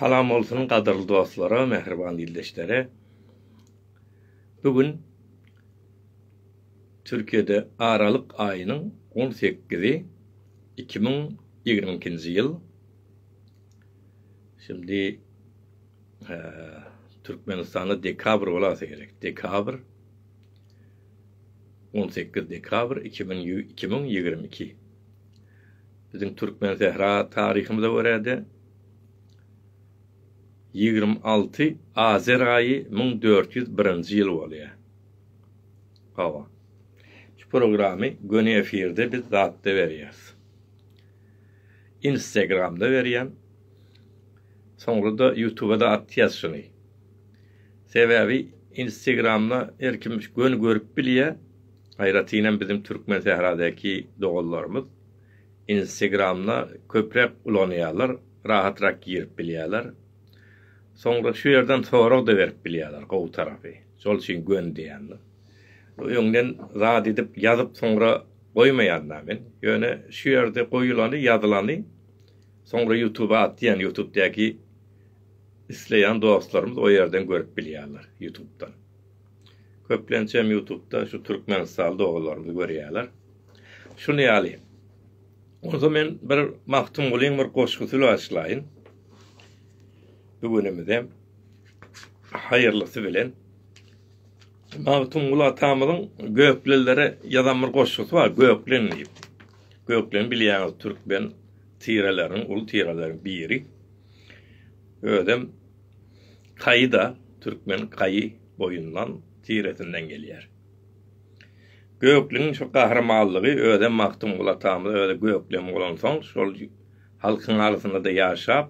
Salam bolsun gadyrly dostlara, mähriban ildeşlere. Bu gün Türkiýede aralyk aýynyň on sekizi, iki müň ýigrimi ikinji ýyl. Şindi Türkmenistanda dekabr bolasa gerek. Dekabr on sekiz dekabr iki müň ýigrimi iki. Biziň Türkmensähra taryhymyza görä-de, ýigrimi alty Azer aýy müň dört ýüz birinji ýyl bolýar. Hawa, şu programy göni efirde biz zatda berýäris. Instagramda berýän, soňra-da Ýutuba-da atýas şuny. Sebäbi Instagramda her kim göni görüp bilýär. Aýratynam biziň türkmen sähradaky doganlarymyz instegramda köpräk ulanýarlar, rahatrak girip bilýärler. Soňra şu ýerden sorag-da berip bilýärler, gowy tarapy, şol üçin gön diýendir. Öňden zat edip ýazyp soňra goýmaýan-da men, ýöne şu ýerde goýulany, ýazylany soňra ýutuba atýan, ýutubdaky isleýän dostlarymyz o ýerden görüp bilýärler, ýutubdan. Köplençem ýutubda şu türkmenistanly doganlarymyzy görýärler. Şuny ýaly. Onda men bir Magtymgulyň bir goşgusy başlaýyn. Bu günümize haýyrlysy bilen. Magtymguly atamyzyň göklilere ýazan bir goşgusy bar, Göklen diýip. Göklen bilýäňiz türkmen tireleriniň, uly tireleriň biri. Özem Kaýy-da türkmen kaýy boýundan, tiresinden gelýär. Gökleňiň şu gahrymanlygy özem Magtymguly atamyz özi gökleň bolansoň, şol halkyň arasynda-da ýaşap,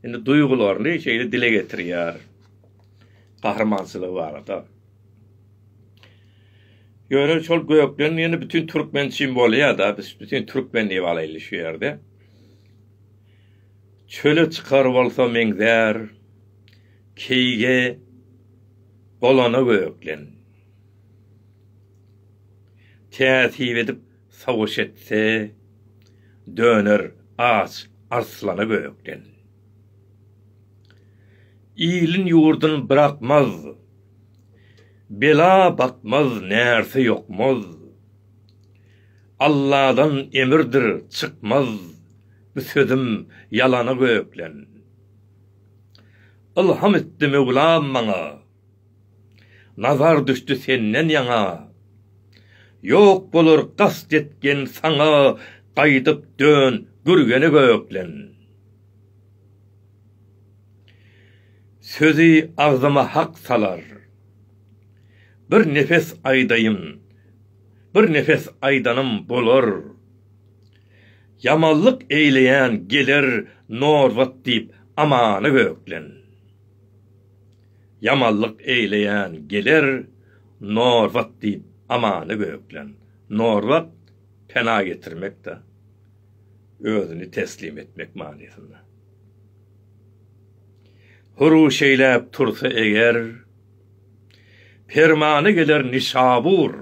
indi duýgularyny şeýle dile getirýär gahrymançylygy barada. Ýöne şol gökleň diýeni bütin türkmen üçin bolýar-da, biz bütin türkmen diýip alaýly şu ýerde. Çöle çykar bolsa meňzär keýige Bolana gökleň. Täsip edip sowuş etse Döner aç arslana gökleň. Ilin ýurdun brakmaz Bela bakmaz närse ýokmaz Alladan emirdir çykmaz Bu sözüm ýalana göklen. Ylham etdi Möwlam maňa. Nazar düşdi senden ýaňa. Ýok bolar gast etgen saňa Gaýdyp dön Gürgene göklen. Sözi agzyma hak salar. Bir nefes aýdaýyn. Bir nefes aýdanym bolar. Ýamanlyk eýleýän geler norbut diýip amana göklen. Ýamanlyk eýleýän geler norbut diýip amana göklen. Norbut pena getirmek-de, özüni teslim etmek manysynda. Huruşeýläp tursa eger, permana geler Nişabur.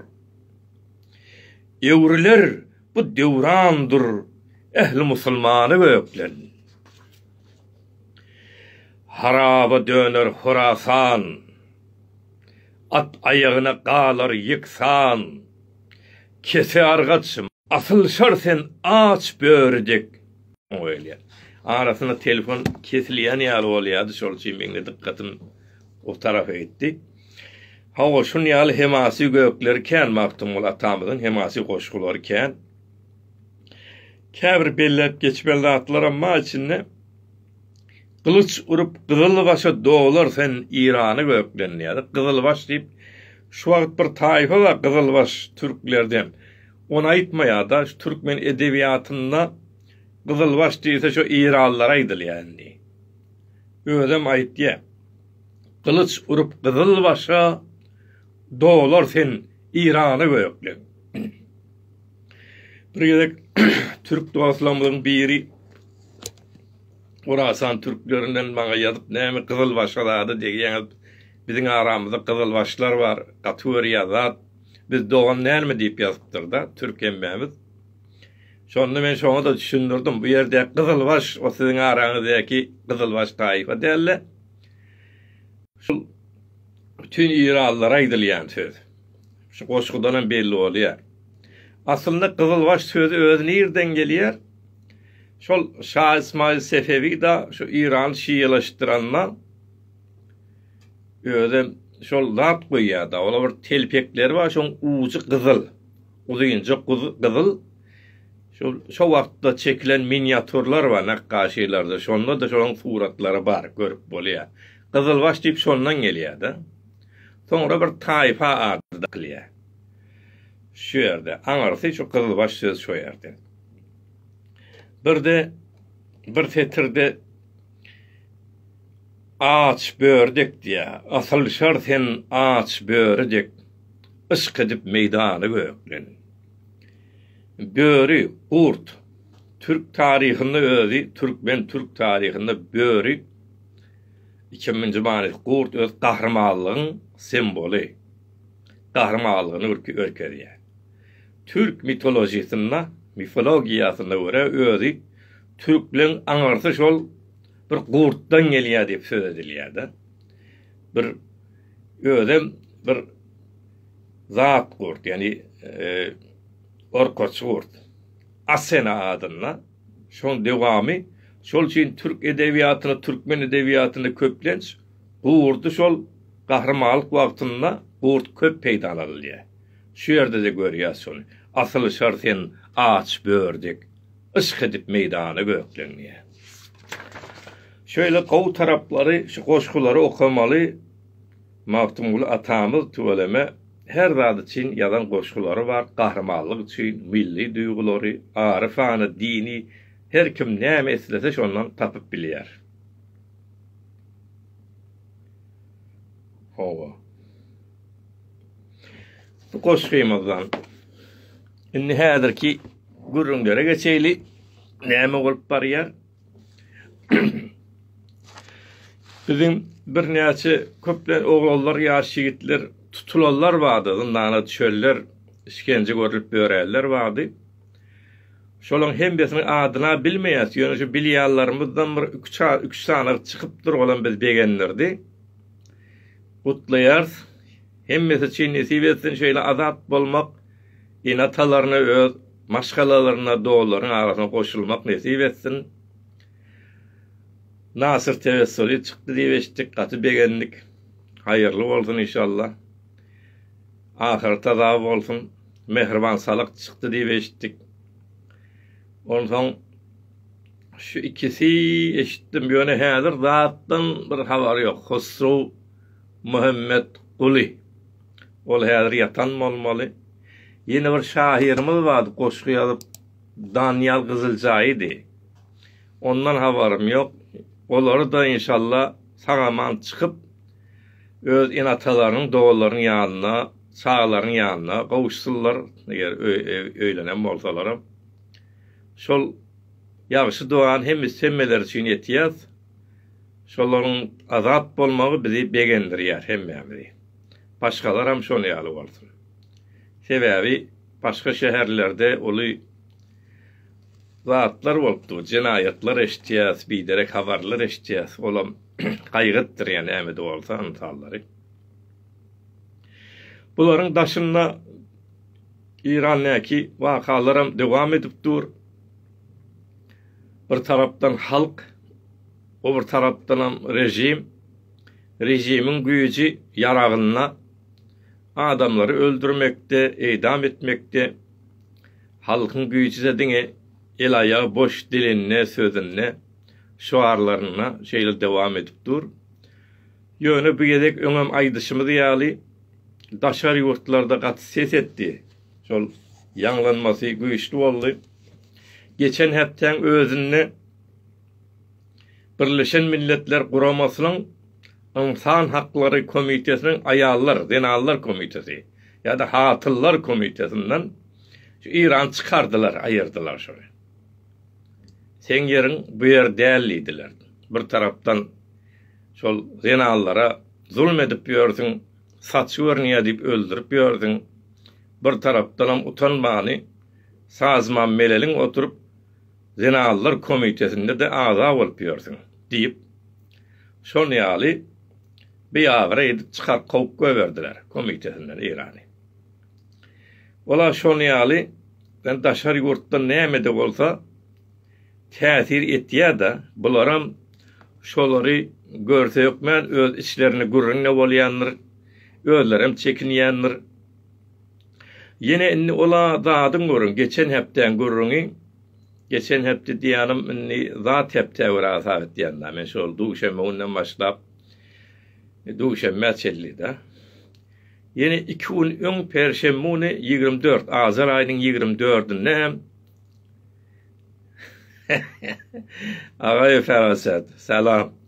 Öwrüler Bu döwrandyr ähli musulmany gökden. Haraba döner Horasan, at aýagyna galar ýeksan. Kese argaç, asylşar sen aç böri dek. Arasynda telefon kesilýän ýaly bolýardy, şol üçin meň-de dykgatym o tarapa gitdi. Hawa, şun ýaly hemasy gökleri kän Magtymguly atamyzyň hemasy goşgulary kän. Käbir belläp geçmeli zatlaram bar içinde. Gylyç urup gyzylbaşa dolar sen Irany gökden diýýärdi. Gyzylbaş diýip şu wagt bir taýfa bar gyzylbaş türklerden. Ony aýtmaýarda, şu türkmen edebiýatynda gyzylbaş diýilse şo Iranlylara aýdylýar indi. Özem aýtýar. Gylyç urup gyzyl başa, Dolar sen Irana gökleň. Bir gezek türk dostlarymyzyň biri Orasan türklerinden maňa ýazyp, näme gyzyl başa zada degýäňiz? Biziň aramyzda gyzyl başlar bar, gaty görýär zat. Biz dogan dälmi diýip ýazypdyr-da, türk hemmämiz. Şonda men şoňa-da düşündirdim, bu ýerdäki gyzylbaş, o siziň araňyzdaky gyzylbaş taýfa däl-de, şul bütin iralylara aýdylýan söz. Şu goşgudanam belli bolýar. Aslynda gyzylbaş sözi özi nirden gelýär? Şol Şa Ysmaýyl Sefewi-da şu Irany şialaşdyranda özem şol zat goýýar-da, ola bir telpekleri bar, şoň ujy gyzyl. Uzynja gyzyl şol şo wagtda çekilen miniatýurlar bar nakgaşylary-da, şonda-da şonuň suratlary bar, görüp bolýar. Gyzylbaş diýip şondan gelýär-de. Soňra bir taýfa ady dakylýar şu ýerde. Aňyrsy şu gyzylbaş söz şo ýerden. Bir-de bir setirde Aç böri dek diýýär. Asylşar sen aç böri dek Yşk edip meýdany gökden. Böri, gurt, türk taryhynda özi türkmen türk taryhynda böri ikiminji manysy gurt öz gahrymanlygyň semboly. Gahrymanlygyny görkezýär. Türk mitolojisynda mifologiýasyna görä özi türkleň aňyrsy şol bir gurtdan gelýär diýip söz edilýär-de. Bir özem bir zat gurt, ýani e, orkaç gurt. Asena adynda. Şoň dewamy şol üçin türk edebiýatynda, türkmen edebiýatynda köplenç gurdy şol gahrymanlyk wagtynda gurt köp peýdalanylýar. Şu ýerde-de görýäs şony. Asyl şar sen aç bördek. Yşk edip meýdana böklenýär. Şeýle gowy taraplary şu goşgulary okamaly Magtymguly atamyz tüweleme her zat üçin ýazan goşgulary bar gahrymanlyk üçin milli duýgulary aryfana dini her kim näme islese şondan tapyp bilýär. Hawa. Bu goşgymyzdan. Indi häzirki gürrüňlere geçeýli. Näme bolup barýar? Biziň birnäçe köplen oglanlar, ýaş ýigitler tutulanlar bardy, zyndana düşenler, işgence görlüp ýörenler bardy. Şolaryň hemmesiniň adyna bilmeýäs, ýöne şu bilýänlerimizden bir iki-üç sany çykyp durgalam bizi begendirdi. Gutlaýarys. Hemmesi üçin nesip etsin şeýle azat bolmak enatalaryna öz maşgalalaryna dollaryň arasyna goşulmak nesip etsin. Nasyr Tewessuly çykdy diýip eşitdik gaty begendik. Haýyrly bolsun inşallah. Ahyreta sag bolsun. Mähriban Salak çykdy diýip eşitdik. Onsoň şu ikisi eşitdim ýöne häzir zatdan bir habar ýok. Hosrow Muhammetguly. Ol häzir ýatan bolmaly. Ýene bir şahyrymyz bardy, goşgy ýazyp, Danyýal Gyzyljaýydy. Ondan habarym ýok. Olary-da, inşalla, sag-aman çykyp, öz ene-atalarynyň, dogalarynyň ýanyna, çagalarynyň ýanyna gowuşsynlar, eger öýlenen bolsalaram. Şol ýagşy dogany hemmeler üçin etýäs. Şolaryň azat bolmagy bizi begendirýär hemmämizi. Başgalaram şol ýaly bolsun. Sebäbi başga şäherlerde uly zatlar bolup dur, jenaýatlar eşitýäs, biderek habarlar eşitýäs, olam gaýgytdyrýar näme-de bolsa ynsallary. Bularyň daşynda Eýrandäki wakalaram dowam edip dur. Bir tarapdan halk, o bir tarapdanam režim, režimiň güýji ýaragynda adamlary öldürmekde, eýdam etmekde, halkyň güýji-de diňe el-aýagy boş dilinde, sözünde, şuarlarynda şeýle dowam edip dur. Ýöne bu gezek öňem aýdyşymyz ýaly, daşary ýurtlarda gaty ses etdi, şol ýaňlanmasy güýçli boldy. Geçen hepdäň özünde Birleşen Milletler Guramasynyň Ynsan haklary komitesiniň aýallar, zenanlar komiteti ýa-da hatynlar komitetinden şu Irany çykardylar, aýyrdylar şony. Seň ýeriň bu ýer däl diýdiler. Bir tarapdan şol zenanlara zulum edip ýörsüň, saçy görünýär diýip öldürip ýörsüň, bir tarapdanam utanmany Sazman Meleliň oturyp Zenanlar komitesinde-de agza bolup ýörsüň, diýip, şol ýaly biagyra edip çykar kowup goýberdiler komitesinden Eýrany. Ola şol ýaly ben daşary ýurtdan näme-de bolsa täsir etýä-da, bularam şolary görse hökmän öz içlerinde gürrüň-de bolýandyr, özlerem çekinýändir. Ýene indi ol-a zadyň görüň, geçen hepdäň gürrüňi, geçen hepde diýýänim, indi zat hepdä görä hasap etýän-dä, men şol duşenbe günden başlap, duşenbä çenli-dä. Ýene iki gün öň perşenbe güni ýigrimi dört, ajar aýynyň ýigrimi dördünde hem, Agaýew Feraset, salam!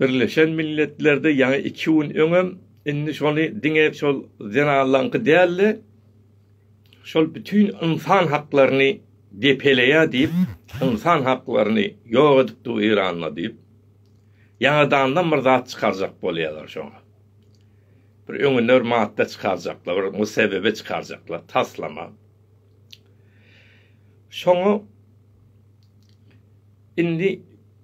Birleşen Milletlerde ýaňy iki gün öňem, indi şony diňe şol zenanlaňky däl-de, şol bütin ynsan haklaryny depeleýär diýip, ynsan haklaryny ýok edip dur Eýranda diýip, ýaňadandan bir zat çykarjak bolýarlar şoňa. Bir öňüne bir madda çykarjaklar, bir musebebe çykarjaklar, taslama. Şoňa Indi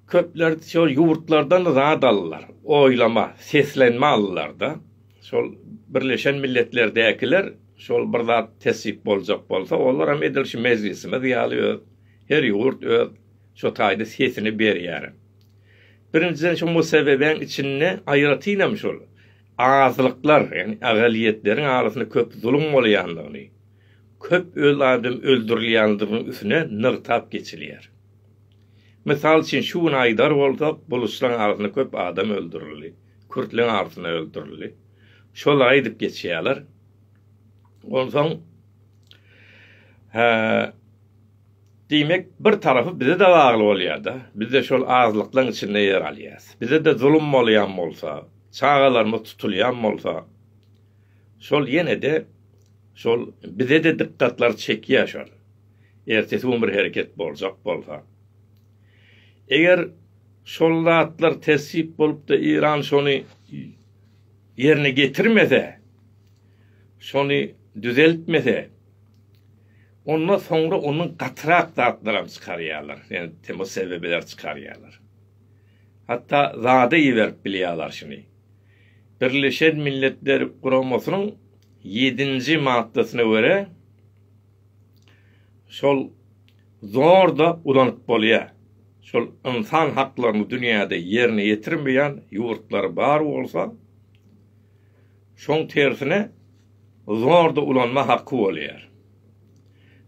köpler şol ýurtlardan zat aldylar. Oýlama, seslenme aldylar-da. Şol Birleşen Milletlerdäkiler şol bir zat tessyk boljak bolsa, olar hem edil şu mejlisimiz ýaly öz, her ýurt öz şo taýda sesini berýär. Birinjiden şu Museweweň içinde aýratyn hem şol azlyklar, ýagny agaliýetleriň arasynda köp zulum bolýandygyny, köp öz adam öldürilýändiginiň üsüne nygtap geçilýär. Mysal üçin şu gün aýdar bolsak buluçlaň arasynda köp adam öldürildi, kürtleň arasynda öldürildi. Şol aýdyp geçýärler. Onsoň diýmek bir tarapy bize de bagly bolýarda. Bizde şol azlyklaň içinde ýer alýas. Bize de zulum bolýan bolsa, çagalarymyz tutulýan bolsa, Şol ýene-de şol bize-de dykgatlar çekýär şol. Ertesi gün bir hereket boljak bolsa. Eger şol zatlar tessyp bolup-da Eýran şony ýerine getirmese, şony düzeltmese, onda soňra ondan gatyrak zatlaram çykarýarlar. Ýani temo sebebiler çykarýarlar. Hatda zada iberip bilýärler şuny. Birleşen Milletler Guramasynyň ýedinji maddasyna görä, şol zor-da ulanyp bolýar. Şol ynsan haklaryny dünýäde ýerine ýetirmeýän ýurtlar bar bolsa, şoň tersine zor-da ulanma haky bolýar.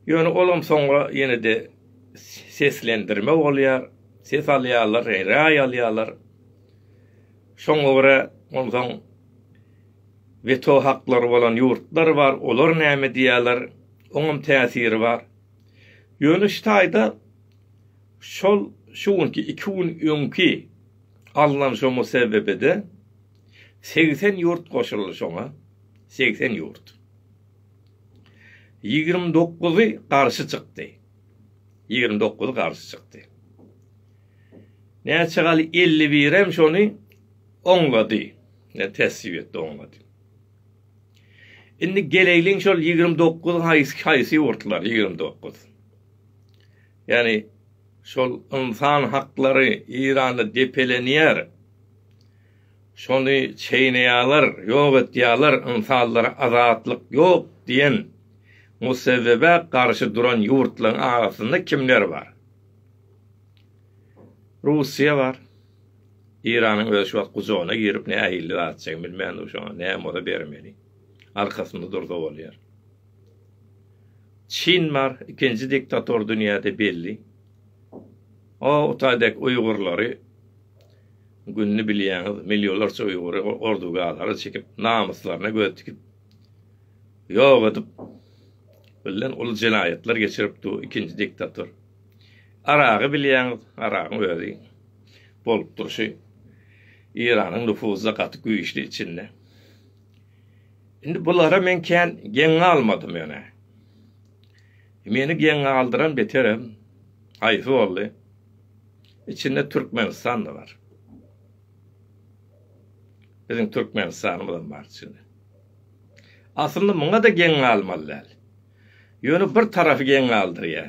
Ýöne olam soňra ýene-de seslendirme bolýar, ses alýarlar, raý alýarlar. Şoňa görä, onsoň weto haklary bolan ýurtlar bar, olar näme diýýärler, oňam täsiri bar. Ýöne şu taýda şol şu günki iki gün öňki alnan şo musewwebede segsen ýurt goşuldy şoňa, segsen ýurt. Ýigrimi dokuzy garşy çykdy. Ýigrimi dokuzy garşy çykdy. Näçe galy elli birem şony oňlady. Ýa tesbih etdi, oňlady. Indi geleýliň şol ýigrimi dokuz haýsy haýsy ýurtlar ýigrimi dokuz. Ýani şol ynsan haklary Eýranda depelenýär. Şony çeýneýärler, ýok etýärler, ynsanlara azatlyk ýok diýen musebbebe garşy duran ýurtlaryň arasynda kimler bar? Russiýa bar. Eýranyň özi şu wagt gujagyna girip nähillik atjagyny bilmän dur şoňa. Näme bolsa bermeli. Arkasynda dursa bolýar. Çin bar, ikinji diktator dünýäde belli. O Utay dek uýgurlary gününi bilýäňiz, millionlarça uýgury ordugalara çekip, namyslaryna göz tikip, ýok edip, billen uly jenaýatlar geçirip dur ikinji diktator. Aragy bilýäňiz, Aragyň özi bolup durşy Iranyň nüfuzy gaty güýçli içinde. Indi bulara men kän geň galmadym ýöne. Meni geň galdyran beterem haýsy boldy? Içinde Türkmenistan-da bar. Biziň Türkmenistanymyzam bar içinde. Aslynda muňa-da geň galmaly däl. Ýöne bir tarapy geň galdyrýar.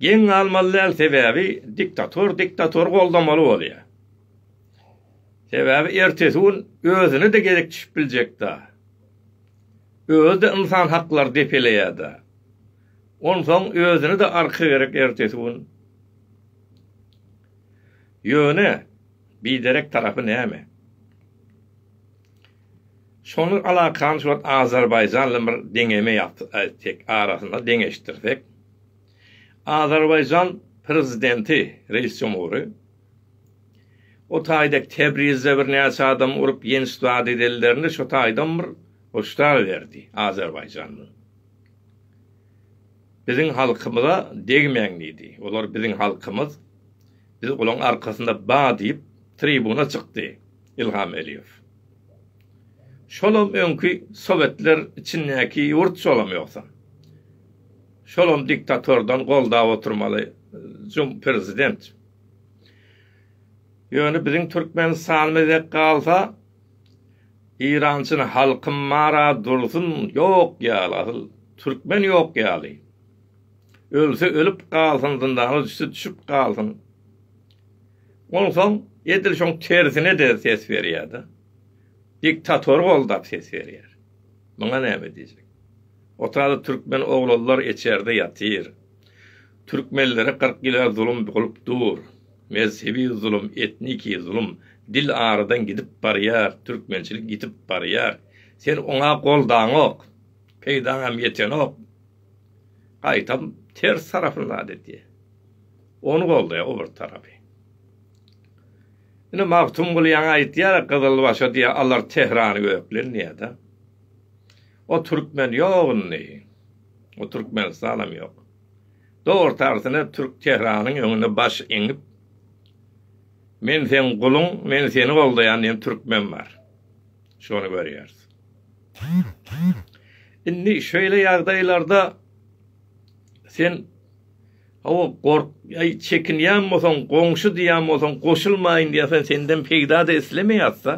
Geň galmaly däl sebäbi diktator diktatory goldamaly bolýar. Sebäbi ertesi gün özüne-de gezek düşüp biljekda. Özi-de ynsan haklary depeleýärda. Onsoň özüne-de arka gerek ertesi gün. Ýöne biderek tarapy näme? Şonuň alakany şu wagt Azerbaýjan bilen bir deňeme ýapyp aýtsak, arasynda deňeşdirsek, Azerbaýjan prezidenti, reis jumhury, o taýda Tebrizde birnäçe adamy urup ýenç dady diýillerinde şu taýdan bir hoşdar berdi Azerbaýjan bilen. Biziň halkymyza degmäň diýdi. Olar biziň halkymyz, biz olaň arkasynda ba diýip tribuna çykdy. Ilham Eliýew. Şolam öňki sowetler içindäki ýurt şolam ýogsam. Şolam diktatordan goldap oturmaly jum prezident. Ýöne biziň Türkmenistanymyz dek galsa Irançyny halkym mara dursun ýok ýaly asyl Türkmen ýok ýaly. Ölse ölüp galsyn zyndana düşse düşüp galsyn. Onsoň edil şoň tersine-de ses berýär-de. Diktatory goldap ses berýär. Muňa näme diýjek? Otada türkmen oglanlar eçerde ýatyr. Türkmenlere kyrk ýyla zulum bolup dur. Mezhebi zulum, etniki zulum. Dil aradan gidip barýar, türkmençilik ýitip barýar. Sen oňa goldaňok. Peýdaňam ýetenok. Gaýtam ters tarapyny zat edýär. Ony goldaýar o bir tarapy. Ine Magtymguly ýaňy aýtýar-a gyzylbaşa diýýär alar Tehrany göklerin diýýär-de. O türkmen ýok indi. O Türkmenistanam ýok. Dogry tarsine türk Tehranyň öňüne baş eňip Men seň guluň, men seni goldaýan diýen türkmen bar. Şony görýäris. Indi şeýle ýagdaýlarda sen Hawa, gork, aý, çekinýän bolsaň, goňşy diýýän bolsaň, goşulmaýyn diýýärsen, senden peýda-da islemeýäs-dä.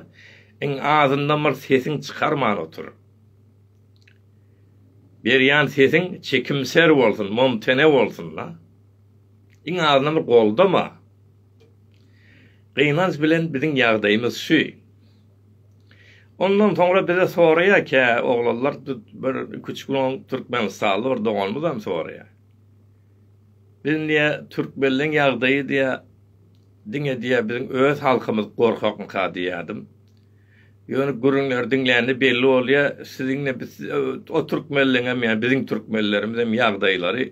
Iň azyndan bir sesiň çykarman otur. Berýän sesiň çekimser bolsun, momtene bolsun-da. Iň azyndan bir goldama. Gynanç bilen biziň ýagdaýymyz şu. Ondan soňra bize soraýar kä oglanlar, bir iki-üç gün oň türkmenistanly bir doganymyzam soraýar. Biziň diýýär türkmenleň ýagdaýy diýýär diňe diýýär biziň öz halkymyz gorkakmyka diýýärdim. Ýöne gürrüňleri diňlände belli bolýar siziňem biz o türkmenleňem ýa biziň türkmenlerimizem ýagdaýlary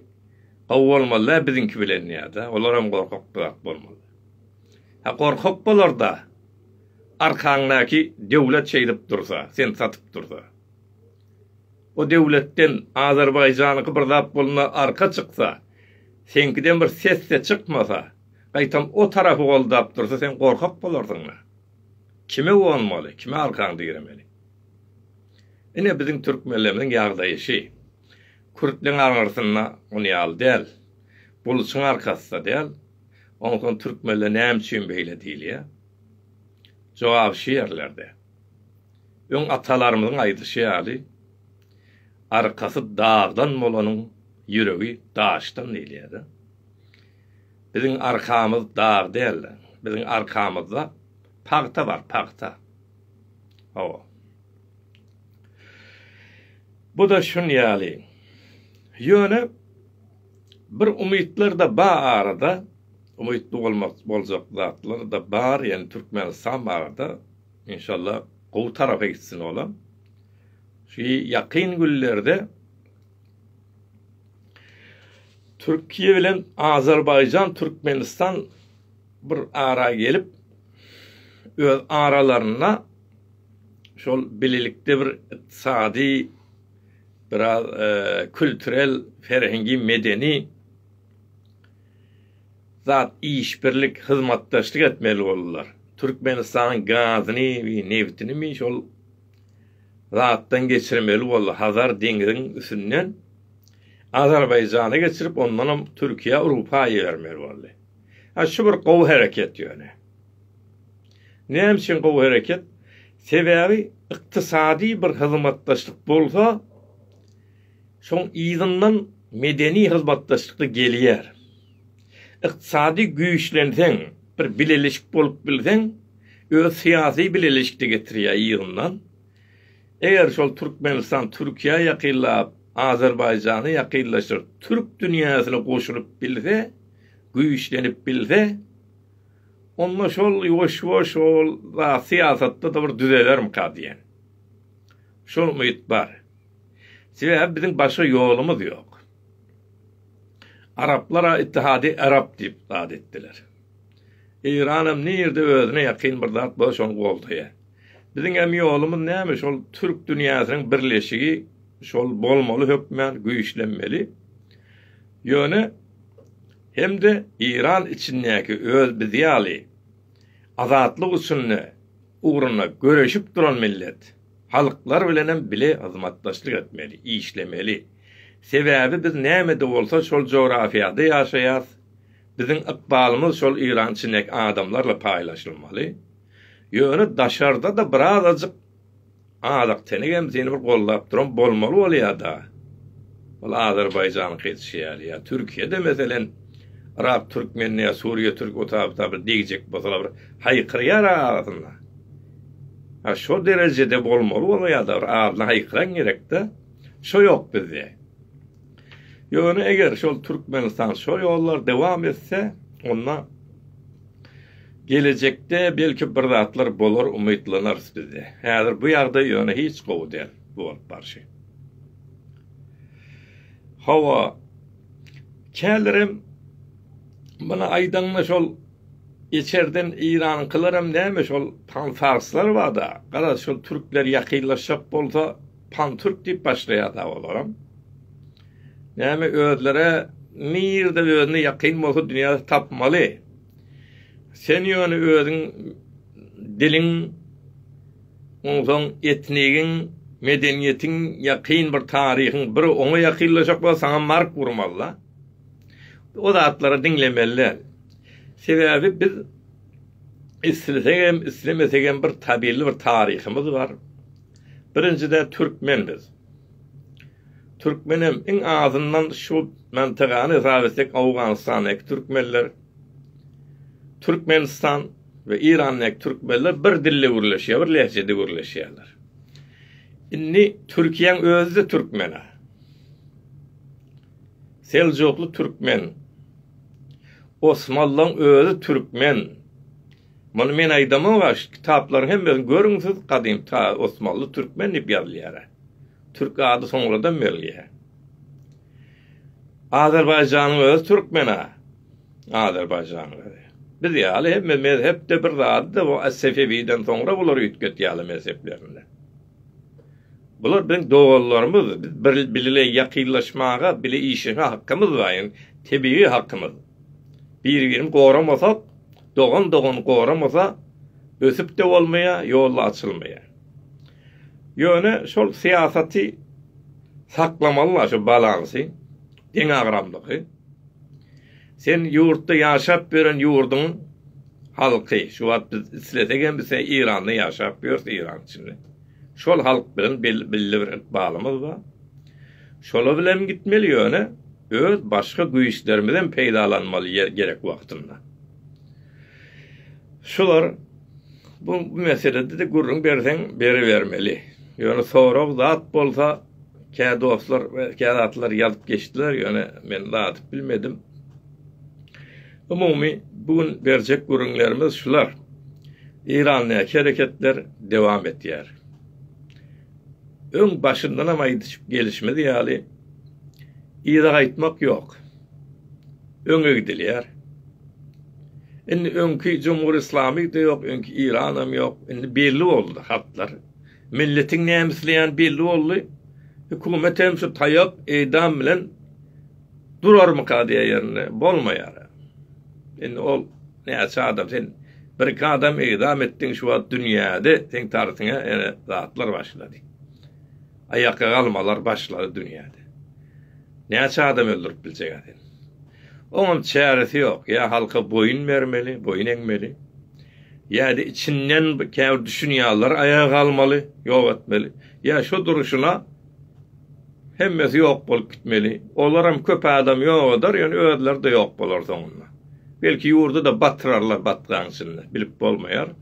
gowy bolmazda biziňki bilen diýýärdi. Olaram gorkak zat bolmaly. Ha gorkak bolarda arkaňdaky döwlet şeýdip dursa, seni satyp dursa. O döwletden Azerbaýjanyňky bir zat bolna arka çyksa, seňkiden bir ses-de çykmasa, gaýtam o tarapy goldap dursa sen gorkak bolarsyňmy? Kime uwanmaly, kime arkaňy diremeli? Ine biziň türkmenlerimiziň ýagdaýy şi. Kürtleň arňyrysynda on ýaly däl. Buluçyň arkasy-da däl. Onsoň türkmenler näme üçin beýle diýilýä? Jogap şi ýerlerde. Öň atalarymyzyň aýdyşy ýaly, Arkasy dagdan bolanyň ýüregi daşdan diýilýär-de. Biziň arkamyz dag däl-de, biziň arkamyzda pagta bar, pagta. Hawa. Bu-da şun ýaly. Ýöne bir umytlar-da ba arada, umytly bolmak boljak zatlar-da bar, ýöne Türkmenistan barada. Inşallah gowy tarapa gitsin olam. Şu ýakyn günlerde Türkiýe bilen Azerbaýjan, Türkmenistan bir ara gelip öz aralarynda şol bilelikde bir ykdysady biraz e, kültürel, ferhengi, medeni zat işbirlik, hyzmatdaşlyk etmeli boldular. Türkmenistanyň gazyny we nebtinimi şol zatdan geçirmeli boldy, Hazar deňziň üstünden Azerbaýjana geçirip, ondanam Türkiýä Urupaa ibermeli boldy. Ha şu bir gowy hereket ýöne. Näme üçin gowy hereket? Sebäbi ykdysady bir hyzmatdaşlyk bolsa, Şoň yzyndan medeni hyzmatdaşlykda gelýär. Ykdysady güýçlenseň, bir bileleşik bolup bilseň, öz syýasy bileleşikde getirýär yzyndan. Eger şol Türkmenistan Türkiýä ýakynlap, Azerbaýjany ýakynlaşdyryp, türk dünýäsine goşulyp bilse, güýçlenip bilse, onda şol ýuwaş-ýuwaş ol zat syýasatda-da bir düzelermika diýen şol umyt bar. Sebäbi biziň başga ýolumyz ýok. Araplar-a Ittihady Arap diýip zat etdiler. Eýranam nirde özüne ýakyn bir zat bolsa şony goldaýar. Biziňem ýolumyz näme şol türk dünýäsiniň birleşigi şol bolmaly hökmän güýçlenmeli. Ýöne hem-de Eýran içindäki öz biz ýaly azatlyk üçin ugrunda göreşip duran millet. Halklar bilenem bile hyzmatdaşlyk etmeli, işlemeli. Sebäbi biz näme-de bolsa şol jografiýada ýaşaýas, biziň ykbalymyz şol irançinek adamlarla paýlaşylmaly. Ýöne daşarda-da birazajyk azak-tenek hem seni bir goldap duran bolmaly bolýa-da. Ol Azerbaýjanyňky etişi ýaly ýa Türkiýede meselen Yrak türkmenine ýa Suriýa türk otabyta bir degjek bolsalar bir haýkyrýar arasynda. A şo derejede bolmaly bolsa ýada bir adyny haýkyran gerekdä. Şo ýok bizde. Ýöne eger şol Türkmenistan şo ýollar dowam etse onda gelejekde belki bir zatlar bolar umytlanarys bizde. Häzir bu ýagdaý ýöne hiç gowy däl bu bolup barşy. Hawa. Kälerem muny aýdanda şol Içerden Eýranyňkylaram näme şol panfarslar bada garaz şol türkler ýakynlaşjak bolsa pantürk diýip başlaýada olaram. Näme özlere nirde özüne ýakyn bolsa dünýäde tapmaly. Sen ýöne özüň diliň onsoň etnigiň medeniýetiň ýakyn bir taryhyň bir oňa ýakynlaşjak bolsa saňa mark urmalyda. O zatlary diňlemeli däl. Sebäbi biz islesegem, islemesegem bir tabelli bir taryhymyz bar. Birinjide türkmen biz. Türkmenem iň azyndan şu mantygany hesap etsek Owganystandaky türkmenler, Türkmenistan we Irandaky türkmenler bir dilde gürleşýär, bir lehjede gürleşýärler. Indi Türkiýäň özi-de türkmen-ä. Seljukly türkmen. Osmanlyň özi türkmen. Muny men aýdamok-a, şu kitaplaryň hemmesini görüň siz, gadym ta Osmanly türkmen diýip ýazylýar-a. Türk ady soňradan berilýär. Azerbaýjanyň özi türkmen-a. Azerbaýjanyň özi. Biz ýaly hemme mezhep-de bir zady-da, bu Sefewiden soňra bular üýtgetýärler mezheplerini. Bular biziň doganlarymyz, biz bile ýakynlaşmaga, bile işleşmäge hakymyz bar, ýagny tebigy hakymyz. Biri-birini goramasak, dogan dogany goramasa, ösüp-de bolmaýar, ýol-da açylmaýar. Ýöne şol syýasaty saklamaly-la, şu balansy, deňagramlygy. Sen ýurtda ýaşap ýören ýurduň halky, şu wagt biz islesek hem biz Eýranda ýaşap ýörs Eýran içinde. Şol halk bilen belli bir ykbalymyz bar. Şolar bilen gitmeli ýöne öz başga güýçlerimizem peýdalanmaly ýer gerek wagtynda. Şular bu meselede-de gürrüň berseň beribermeli. Ýöne sorag zat bolsa Kä dostlar we kä zatlar ýazyp geçdiler, ýöne men dadyp bilmedim. Umumy bu gün berjek gürrüňlerimiz şular. Eýrandaky hereketler dowam etýär. Öň başyndanam aýdyşyp gelişimiz ýaly, yza gaýtmak ýok. Öňe gidilýär. Indi öňki Jumhur Islamy-da ýok, öňki Yranam ýok. Indi belli boldy hatlar. Milletiň näme isleýäni belli boldy. Hökümet hem şu taýak eýdam bilen durarmyka diýýän ýerinde bolmaýar-a. Indi ol näçe adam sen birki adam eýdam etdiň şu wagt dünýäde seň tartyňa ýene zatlar başlady. Aýakga galmalar başlady dünýäde. Näçe adam öldürip biljek-ä sen. Oňam çäresi ýok. Ýa halka boýun bermeli, boýun eňmeli. Ýa-da içinden käbir düşünýänler aýaga galmaly, ýok etmeli. Ýa şu durşuna hemmesi ýok bolup gitmeli. Olaram köp adam ýok eder, ýöne özleri-de ýok bolar soňunda. Belki ýurdy-da batyrarlar batgaň içinde, bilip bolmaýar.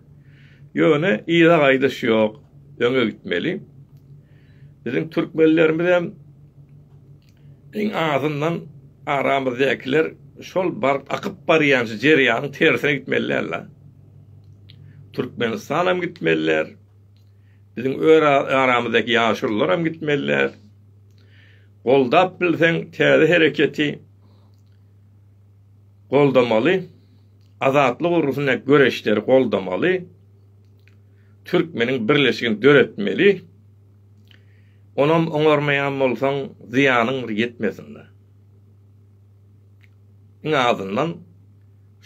Ýöne yza gaýdyş ýok, öňe gitmeli. Biziň türkmenlerimizem Iň azyndan aramyzdakiler şol baryp akyp barýan şu jerýanyň tersine gitmeli däl la. Türkmenistanam gitmeliler. Biziň öz aramyzdaki ýaşulularam gitmeliler. Goldap bilseň täze hereketi goldamaly. Azatlyk urusynda göreşleri goldamaly. Türkmeniň birleşigini döretmeli. Onam oňarmaýan bolsaň, zyýanyň bir ýetmesin-dä. Iň azyndan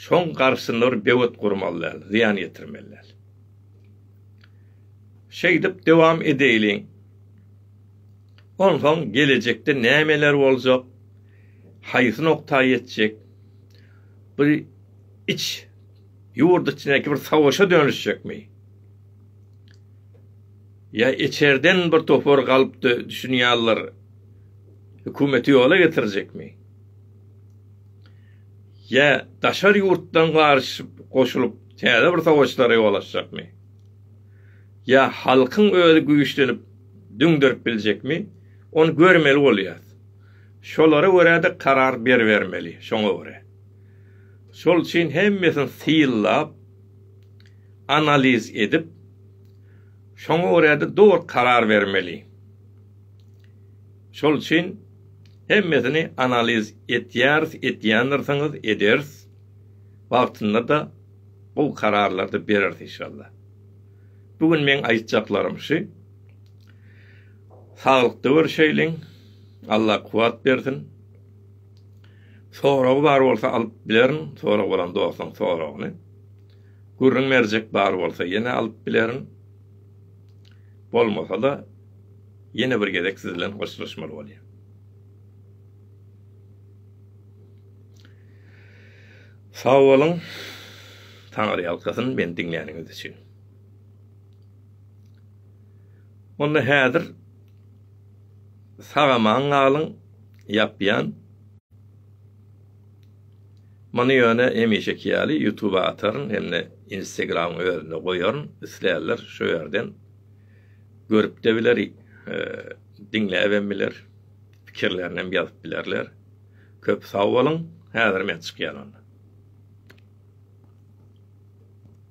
şoň garşysyna bir böwet gurmaly däl, zyýan ýetirmeli däl. Şeýdip dowam edeýliň. Onsoň gelejekde nämeler boljak, haýsy nokta ýetjek, bir iç Ýurt içindäki bir savaşa dönüşjekmi? Ýa içerden bir topar galpdy düşünýärler, hökümeti ýola getirjekmi? Ýa daşary ýurtdan garyşyp goşulyp täze bir savaşlara ýol açjakmy? Ýa halkyň özi güýçlenip düňderip biljekmi? Ony görmeli bolýas. Şolara görä-de karar beribermeli, şoňa görä. Şol üçin hemmesini synlap, analiz edip, şoňa görä-de dogry karar bermeli. Şol üçin hemmesini analiz etýäris, etýändirsiňiz, ederis. Wagtynda-da gowy kararlary bereris inşallah. Bu gün meň aýtjaklarym şu. Saglykda görşeýliň. Allah kuwwat bersin. Soragy bar bolsa alyp bilerin sorag bolan dostuň soragyny. Gürrüň berjek bar bolsa ýene alyp bilerin. Bolmasa-da ýene bir gezek siz bilen hoşlaşmaly bolýan. Sag boluň. Taňry ýalkasyn meni diňläniňiz üçin. Onda häzir sag-aman galyň. ýapýan. Muny ýöne hemişeki ýaly ýutuba ataryn hem-de Instagramyň özünde goýaryn, isleýänler şu ýerden görüp-de biler, diňläbem biler, pikirlerinem ýazyp bilerler. Köp sag boluň, häzir men çykýan onda.